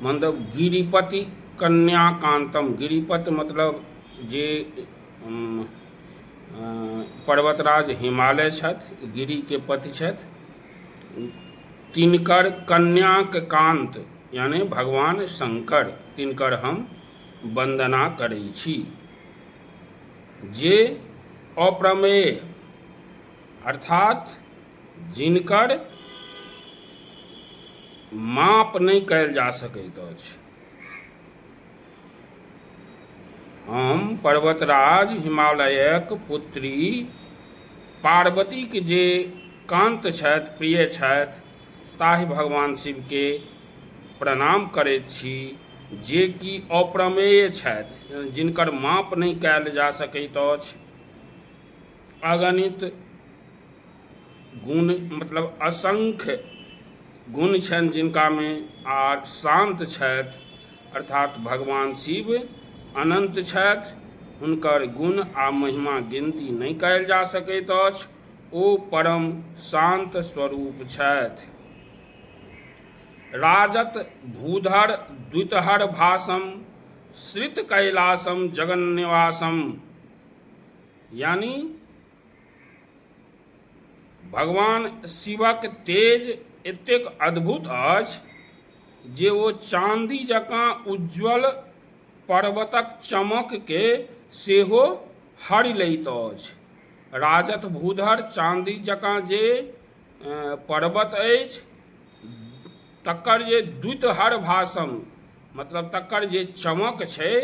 मतलब गिरिपति कन्याकान्तम गिरिपति मतलब जे पर्वतराज हिमालय छथि गिरिके पति छथि तिनकर कन्याक कान्त यानि भगवान शङ्कर तिनकर हम वन्दना करै छी जे अप्रमेय अर्थात जिनकर माप नहि कयल जा सकैत अछि हम पर्वतराज हिमालयक पुत्री पार्वतीक जे कान्त छथि प्रिय छथि ताहि भगवान शिवके प्रणाम करैत छी जे कि अप्रमेय छथि जिनकर माप नहि कयल जा सकैत अछि अगणित गुण मतलब असंख्य गुण छनि जिनकामे आ शान्त छथि अर्थात भगवान शिव अनन्त छथि हुनकर गुण आ महिमा गिनती नहि कयल जा सकैत अछि ओ परम शान्त स्वरूप छथि राजत भूधर द्वितहर भाषम श्रित कैलासम जगन्निवासम यानि भगवान शिवक तेज एतेक अद्भुत अछि जे ओ चाँदी जकाँ उज्ज्वल पर्वतक चमकके सेहो हरि लैत अछि राजत भूधर चाँदी जकाँ जे पर्वत अछि तकर जे द्वितहर भाषण मतलब तकर जे चमक छै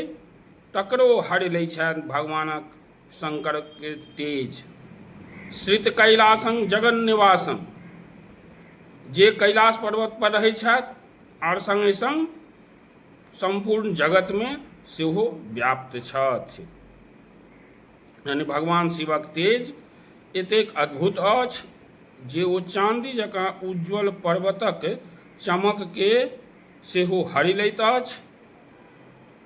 तकरो हरि लै छथि भगवानक शङ्करके तेज श्रित कैलाशं जगन निवासं जे कैलाश पर्वत पर रहै छथि आओर सङ्गे सङ्ग सम्पूर्ण जगतमे सेहो व्याप्त छथि यानि भगवान शिवक तेज एतेक अद्भुत अछि जे ओ चाँदी जकाँ उज्ज्वल पर्वतक चमकके सेहो हरि लैत अछि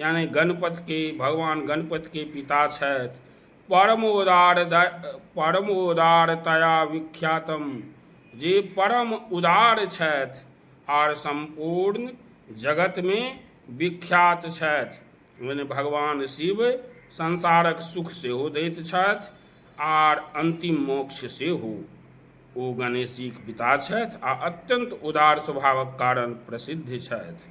यानि गणपतिके भगवान गणपतिके पिता छथि परम उदार परम उदारतया विख्यातम जे परम उदार छथि आर सम्पूर्ण जगतमे विख्यात छथि मने भगवान शिव संसारक सुख सेहो दैत छथि आर अन्तिम मोक्ष सेहो ओ गणेशीक पिता छथि आ अत्यन्त उदार स्वभावक कारण प्रसिद्ध छथि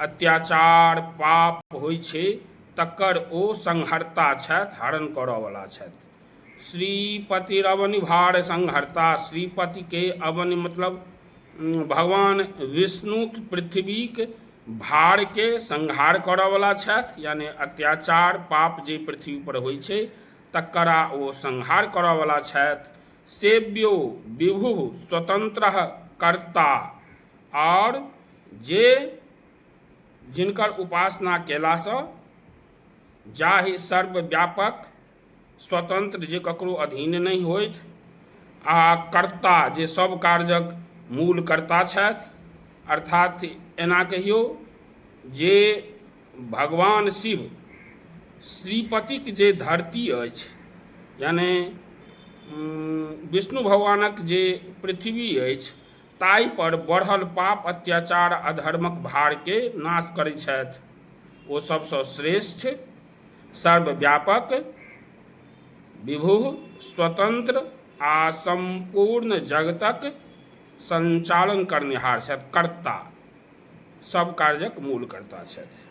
अत्याचार पाप होइ छै तकर ओ संहर्ता छथि हरण करऽवला छथि श्रीपतिरवनिभार संहर्ता श्रीपतिके अवनि मतलब भगवान विष्णु पृथ्वीक भारके संहार करऽवला छथि यानि अत्याचार पाप जे पृथ्वीपर होइ छै तकरा ओ संहार करऽवला छथि सेव्यो विभु स्वतन्त्र कर्ता आओर जे जिनकर उपासना कयलासँ जाहि सर्वव्यापक स्वतन्त्र जे ककरो अधीन नहि होथि आ कर्ता जे सभ कार्यक मूल कर्ता छथि अर्थात एना कहियौ जे भगवान शिव श्रीपतिक जे धरती अछि यानि विष्णु भगवानक जे पृथ्वी अछि ताहिपर बढ़ल पाप, अत्याचार आ अधर्मक भारकेँ नाश करैत छथि। ओ सभसँ श्रेष्ठ, सर्वव्यापक, विभुः, स्वतन्त्र आ सम्पूर्ण जगतक सञ्चालन करनिहार छथि, कर्ता, सभ कार्यक मूलकर्ता छथि।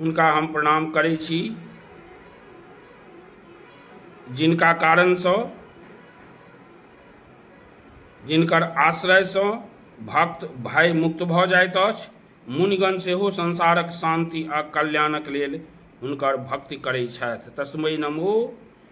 हुनका हम प्रणाम करै छी जिनका कारणसँ जिनकर आश्रयसँ भक्त भय मुक्त भऽ जाइत अछि मुनिगण सेहो संसारक शान्ति आ कल्याणक लेल हुनकर भक्ति करै छथि तस्मै नमो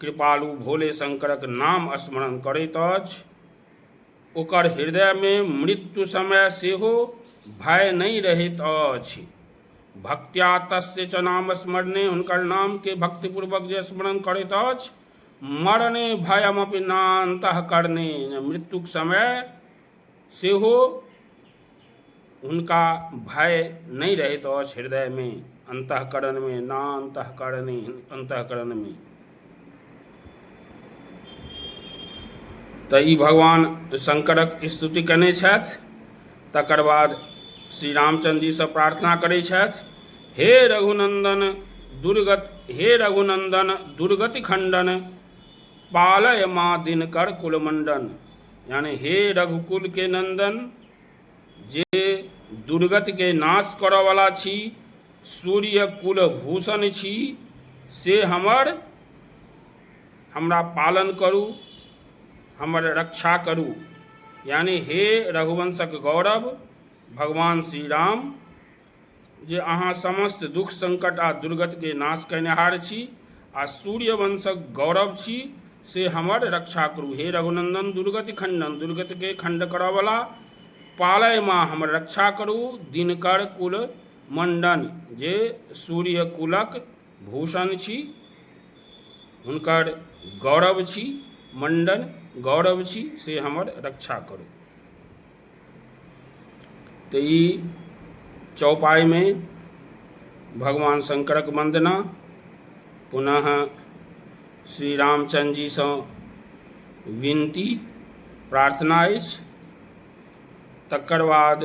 कृपालु भोले शंकरक नाम स्मरण करैत अछि ओकर हृदयमे मृत्यु समय सेहो भय नहि रहैत अछि भक्त्या तस्य च नाम स्मरणे हुनकर नामके भक्तिपूर्वक जे स्मरण करैत अछि मरणे भयमपि नान्तः करणे मृत्युक समय सेहो हुनका भय नहि रहैत अछि हृदयमे अन्तःकरणमे ना अन्तःकरणे अन्तःकरणमे तऽ ई भगवान शङ्करक स्तुति कयने छथि तकर बाद श्री रामचंद्र जीसँ प्रार्थना करै छथि हे रघुनन्दन दुर्गत हे रघुनन्दन दुर्गति खण्डन पालय माँ दिनकर कुलमण्डन यानि हे रघुकुलके नन्दन जे दुर्गतके नाश करऽवला छी सूर्य कुल भूषण छी से हमर हमरा पालन करू हमर रक्षा करू यानि हे रघुवंशक गौरव भगवान श्री राम जे अहाँ समस्त दुःख संकट आ दुर्गतिके नाश कयनिहार छी आ सूर्य वंशक गौरव छी से हमर रक्षा करू हे रघुनंदन दुर्गति खंडन दुर्गतिके खंड करऽवला पालय माँ हमर रक्षा करू दिनकर कुल मंडन जे सूर्य कुलक भूषण छी हुनकर गौरव छी मंडन गौरव छी से हमर रक्षा करू तऽ ई चौपाइमे भगवान शङ्करक वन्दना पुनः श्री रामचन्द्रजीसँ विनती प्रार्थना अछि तकर बाद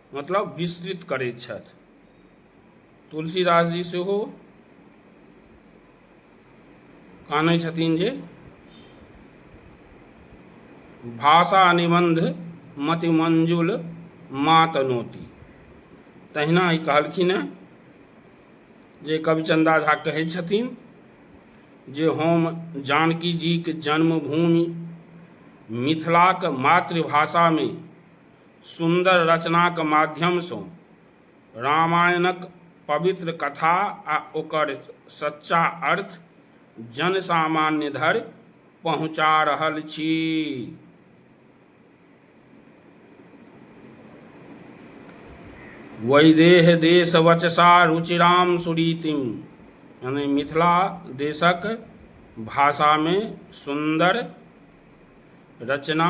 मतलब विस्तृत करैत छथि तुलसीदास जी सेहो कानै छथिन जे भाषा निबंध मतिमंजुल मातनोती तहिना ई कहलखिन हेँ जे कविचंदा झा कहै छथिन जे हम जानकी जीक जन्मभूमि मिथिलाक मातृभाषामे सुन्दर रचनाक माध्यमसँ रामायणक पवित्र कथा आ ओकर सच्चा अर्थ जन सामान्य धरि पहुँचा रहल छी वैदेह देश वचसा रुचिराम सुरीतिम यानी मिथिला देशक भाषामे सुन्दर रचना